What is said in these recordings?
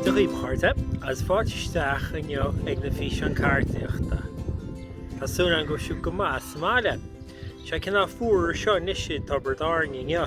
Dia dhaoibh a chairde agus fáilte isteach inniu ag na físeáin ceardaíochta. Tá súil agam go bhfuil sibh go maith sa mbaile. Sé cineál fuar anseo anois i dTobar Áine inniu.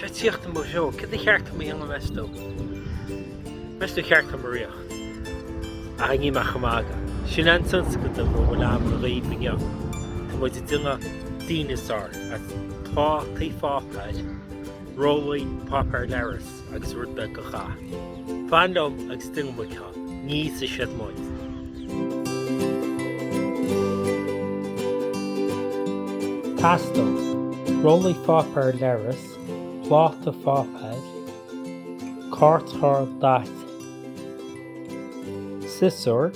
Tá sé ag tíocht i mo threo. Céard ba cheart dom a dhéanamh meas tú? Meas tú cheart dom rith? Ach níl mé ach ag magadh. Sin an tionscadal atá agam dhaoibh inniu. Tá muid ag déanamh díneasár as plátaí páipéir, rollaí páipéar leithris. agus rud beag dath. Fan liom agus tosóidh muid. Teastaíonn, rollaí pháipéir leithris, pláta pháipéir, cairtchlár daite, siosúr,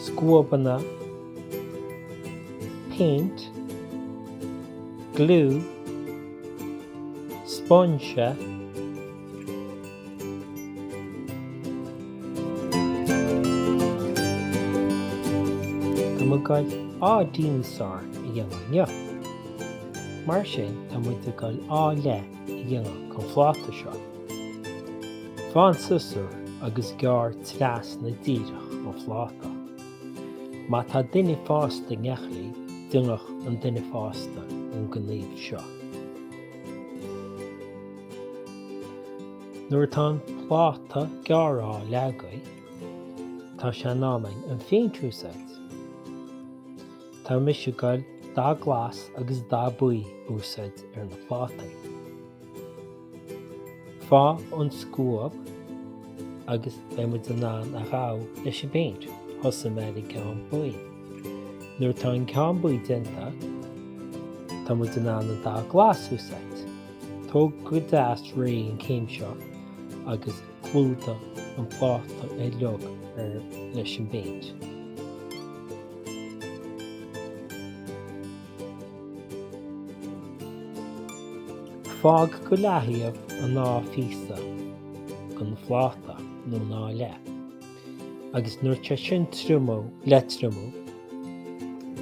scuabanna, péint, gliú, spúinse. Tá muid ag goil an díneasár a dhéanamh inniu. Mar sin tá muid ag goil dhá leath a dhéanamh gon phláta seo. Faigh an siosúr agus gearr trasna díreach gon phláta. Má tá duine fásta in aice libh, déanfaidh an duine fásta an gníomh seo. Nuair atá an pláta gearrtha i leath agaibh, tá sé in am an phéint a úsáid. Tá mise ag goil dath glas agus dath buí a úsáid ar na plátaí. Faigh an scuab agus beidh muid in ann a ghabhail leis an bpéint. Tosóidh mé ar an gceann buí. Nuair atá an ceann buí déanta tá muid in ann an dath glas a úsáid. Tóg go deas réidh an céim seo agus clúdaigh an pláta uilig ar fad leis an bpéint. Fág go leathaobh an dá phíosa den phláta nó an dá leath agus nuair atá sé sin ag triomú, le triomú,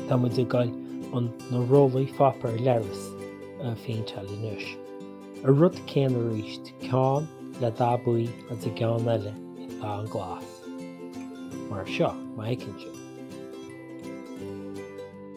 tá muid ag goil na rollaí pháipéir leithris a phéinteáil anois. An rud céanna arís, ceann le dath buí agus an ceann eile le dath an glas. Mar seo, má fheiceann sibh.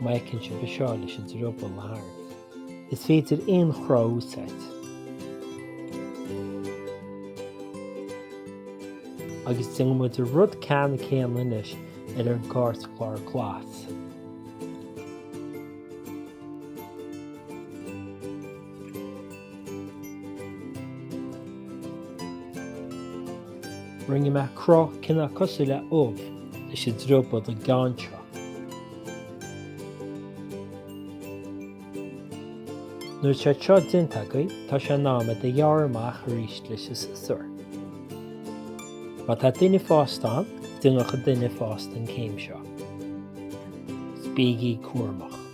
Mar a fheiceann sibh anseo leis an drioball a tharraingt, is féidir aon chruth a úsáid. Agus déanann muid an rud ceanna céanna anois ar an gcairtchlár glas. Rinne mé cruth cineál cosúil le ubh leis an drioball don gceann seo. Nuair atá sé seo déanta agaibh tá sé in am iad a ghearradh amach arís leis an siosúr. Má tá duine fásta ann, déanadh an duine fásta an céim seo. Bígí cúramach.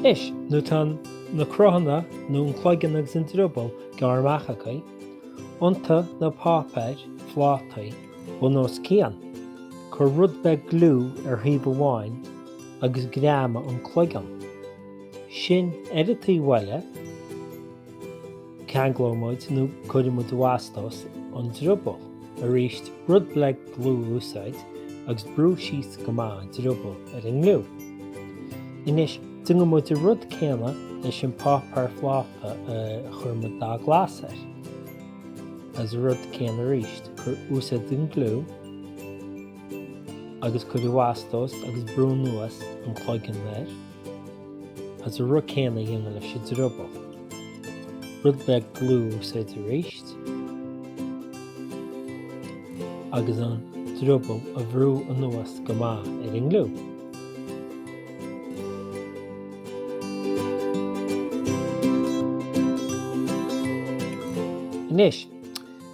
Anois nuair tá na cruthanna nó an cloigeann agus an drioball gearrtha amach agaibh, iontaigh na páipéarphlátaí bun os cionn, cuir rud beag gliú ar thaobh amháin agus greamaigh an cloigeann. Ansin ar an taobh eile. Ceanglóidh muid nó cuirfidh muid i bhfastós an drioball. Arís, rud beag gliú a úsáid agus brú síos go maith an drioball ar an ngliú. Anois, déanann muid an rud céanna leis an páipéarphláta a chuir muid dath glas air. Agus an rud céanna arís, úsáid an gliú agus cuir i bhfastós agus brú anuas an cloigeann air. Agus an rud céanna a dhéanamh leis an drioball. Rud beag gliú a úsáid arís agus an drioball a bhrú anuas go maith ar an ngliú. Anois,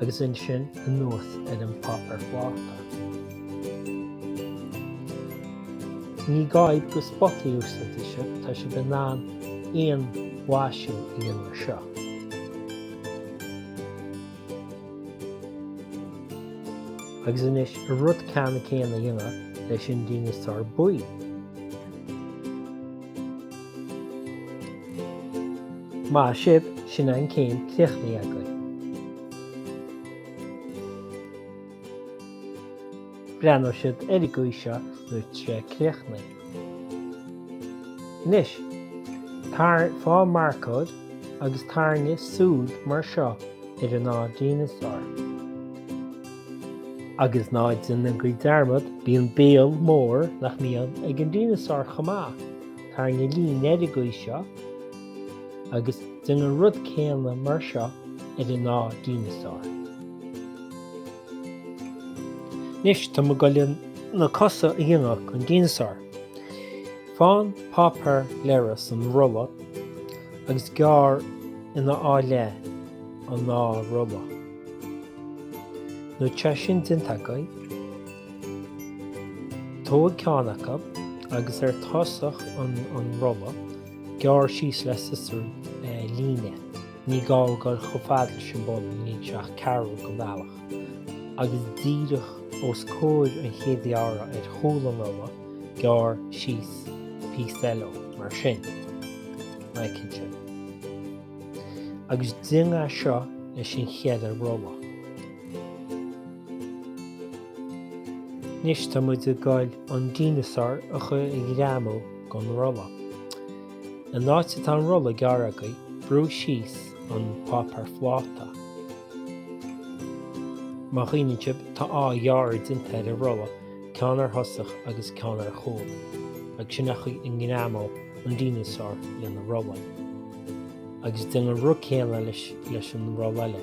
agus ansin anuas ar an páipéarphláta. Ní gá iad go spotaí a úsáidfidh sibh, tá sibh in ann aon mhaisiú a dhéanamh ar seo. Agus anois an rud ceanna céanna a dhéanamh leis an dineasár buí. Maith sibh, sin an céim críochnaithe againn. Breathnóidh siad ar an gcaoi seo nuair atá sé críochnaithe. Anois, tar, faigh marcóir agus tarraing súil mar seo ar an dá dineasár. Agus ná déanaigí dearmad, bíonn béal mór nach mbíonn ag an dineasár chomh maith. Tá na línéirigí seo agus déan an rud céanna mar seo ar an dá dhíneasár. Anois tá muid ag goil na cosa a dhéanamh gon díneasár. Faigh an páipéar leithris an rolla agus gearr ina dhá leith an dá rolla. Nuair atá sin déanta agaibh. Tóg ceann acu, agus ar tosach an rolla, gearr síos le siosúr líne, ní gá dul chomh fada leis an bpoll an líne seo ach ceathrú den bhealach, agus díreach os comhair an chéad ghearradh ar chúl an rolla, gearr síos píosa eile, mar sin. Aye, cinnte. Agus déan é seo leis an cheithre rolla. Anois tá muid ag gol an díneasár a chur i ngreamú gon rolla. An áit atá an rolla gearrtha agaibh brúigh síos an páipéar phláta. Má chuimhníonn sibh tá dhá ghearradh déanta ar an rolla ceann ar thosach agus ceann ar chúl agus sin a chur i ngreamú an díneasár leis na rollaí. Agus déan an rud céanna leis an rolla eile.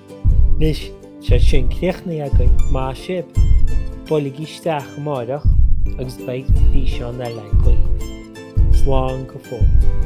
Anois, tá sé sin críochnaithe againn, maith sibh! Buailigí isteach amáireach agus beidh físeán eile agaibh. Slán go fóill.